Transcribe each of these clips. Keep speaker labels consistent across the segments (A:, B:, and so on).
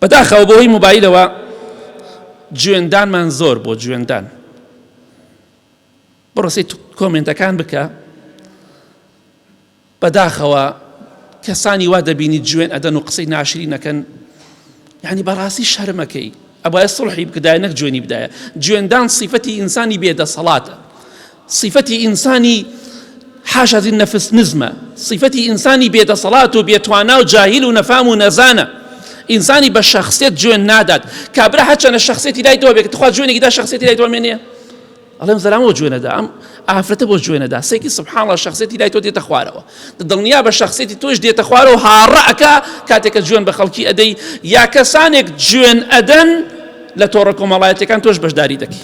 A: بەداخەوە بە هۆی مۆبایلەوە جوێندانمان زۆر بۆ جوێندان بڕسی کۆمنتەکان بکە بەداخەوە کەسانی وا دەبینی جوێن ئەدەن و قسەی ناشری نەکەن یعنی بەڕاستی شەرمەکەی ئەبایە سڵحی بکدای نەک جوێنی بدایە جوێندان سیفەتی ئینسانی بێدەسەڵاتە سیفەتی ئینسانی حاش از النفس نزمە، سیفەتی ئینسانی بێ دەسەڵات و بێ توانا و جاهیل و نەفام و نەزانە، ئینسانی بە شەخسێت جوێن نادات، کابرا هەرچەنە شەخسێتی لای دوا بێت تخوا جوێنێکی دا شەخسێتی لای دوا مێنێ؟ ئەڵێم زەلامەوە جوێنەدا ئەم ئافرەتە بۆ جوێنەدا سێکی سبحاڵە شخصێتی لای تۆ دێتە خوارەوە دڵنیا بە شخصێتی تۆش دێتە خوارەوە هاڕەکە کاتێکە جوێن بە خەڵکی ئەدەی یا کەسانێک جوێن ئەدەن لە تۆڕە کۆمەڵایەتەکان تۆش بەشداری دەکەی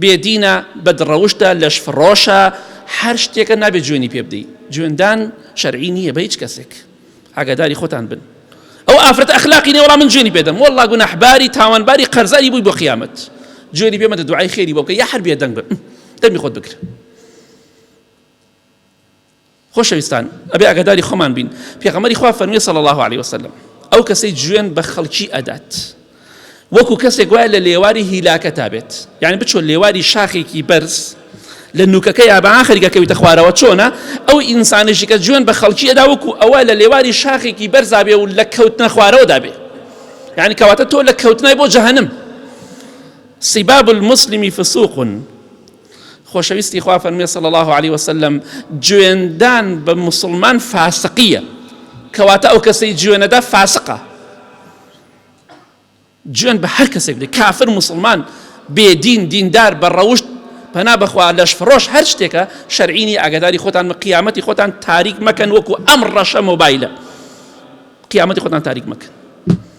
A: بێدینە، بەدڕەوشتە، لەشفڕۆشە، هەر شتێکە نابێت جوێنی پێ بدەی. جوێندان شەرعی نییە بە هیچ کەسێک. ئاگاداری خۆتان بن. ئەو ئافرەت ئەخلاقی نیە وەڵا من جوێنی پێدەم والله گوناحباری تاوانباری قەرزاری بووی بۆ قیامەت جوێنی پێ مەدە دوعای خێری بۆ بکە یا هەر بێدەنگ بە دەمی خۆت بگرە خۆشەویستان ئەبێ ئاگاداری خۆمان بین پێغەمەری خوا فەرمی صلی الله علیه وسلم ئەو کەسەی جوێن بە خەڵکی ئەدات وەکو کەسێک وایە لە لێواری هیلاکە تا بێت یعنی بچۆ لێواری شاخێکی بەرز لە نوکەکە یا بە ئاخرگەکەویتە خوارەوە چۆنە ئەو ئینسانێکی کە جوێن بە خەڵکی ئەدا وەکو ئەوە لە لێواری شاخێکی بەرزابێ و لە کەوتنە خوارەوە دابێ یعنی کەواتە تۆ لە کەوتنای بۆ جەهنم سیباب المسلمی فسوقن خۆشەویستی خوا فەرمێ صلی الله علیه وسلم جوێندان بە موسڵمان فاسقیە کەواتە ئەو کەسەی جوێنەدا فاسقە جوێن بە هەر کەسێک بدە کافر مسلمان بێدین دیندار بە ڕەوشت پەنا بەخوا لەش فڕۆش هەر شتێکە شەرعینی ئاگداری خۆتان مە قیامەتی خۆتان تاریک مەکەن وەکو ئەم ڕەشە مۆبایلە قیامەتی خۆتان تاریک مەکەن